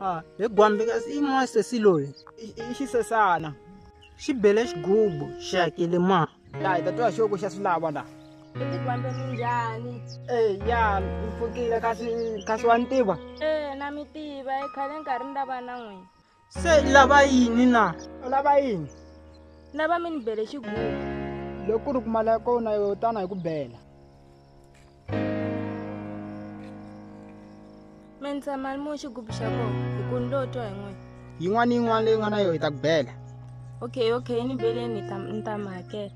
Ah, he gwambikazi i n'wana sesi loyi i- i xisesana xi bele xigubu xi hakele ma laha hi ta twa xoko xa swi lava laha Kuti gwambe minjani? Eh, ya ni pfukile kasi kasi wa ni tiva Eh, na mi tiva, i khale nkarhi ni lava na n'wina. se i lava yini na u lava yini lava mi ni bele xigugu loko ku ri ku mali ya kona yo tana hi ku bela mi ndza mali mu xigubu xa kona hi ku ni lo twa hi n'wina yin'wana ni yin'wana leyi nga na yona hi ta ku bela okay okay ni beleni ni ta mi hakela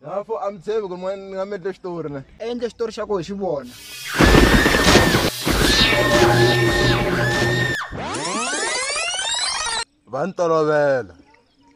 Lapho a mi tshembi ku ri ni nga mi endle xitori ne. Endle xitori xa ku hi xi vona. Va ni tolovela.